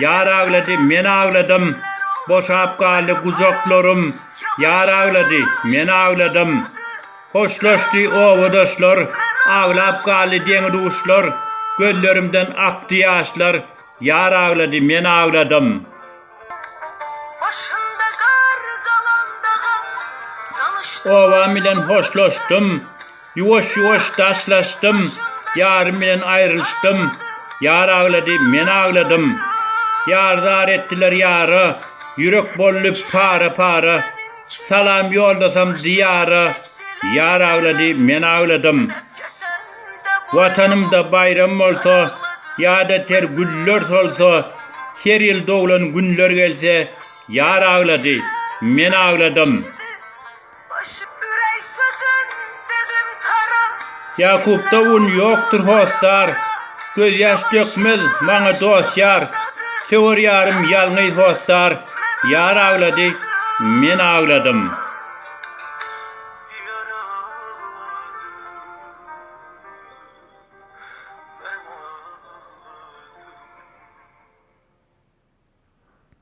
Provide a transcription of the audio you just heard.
Ýar aglady, men agladym, Boşap galdy gujaklarym, Ýar aglady, men agladym. Hoşlaşdy obadaşlar, Aglap galdy deňi-duşlar, Gözlerimden akdy ýaşlar, Ýar aglady, men agladym. Obam bilen hoşlaşdym. Ýuwaş-ýuwaş daşlaşdym, Ýarym bilen aýrylyşdym, Ýar aglady, men agladym. Ýar zar etdiler ýara, Ýürek boldy para-para. Salam ýoldasam Diýara, Ýar aglady, men agladym. Watanymda baýram bolsa, Ýada ter güller solsa, Her ýyl doglan günler gelse, Ýar aglady, men agladym. Ýakupda un ýokdur hossar, Gözýaş dökmez maňa dost ýar, Söwer ýarym ýalňyz hossar, Ýar aglady, men agladym.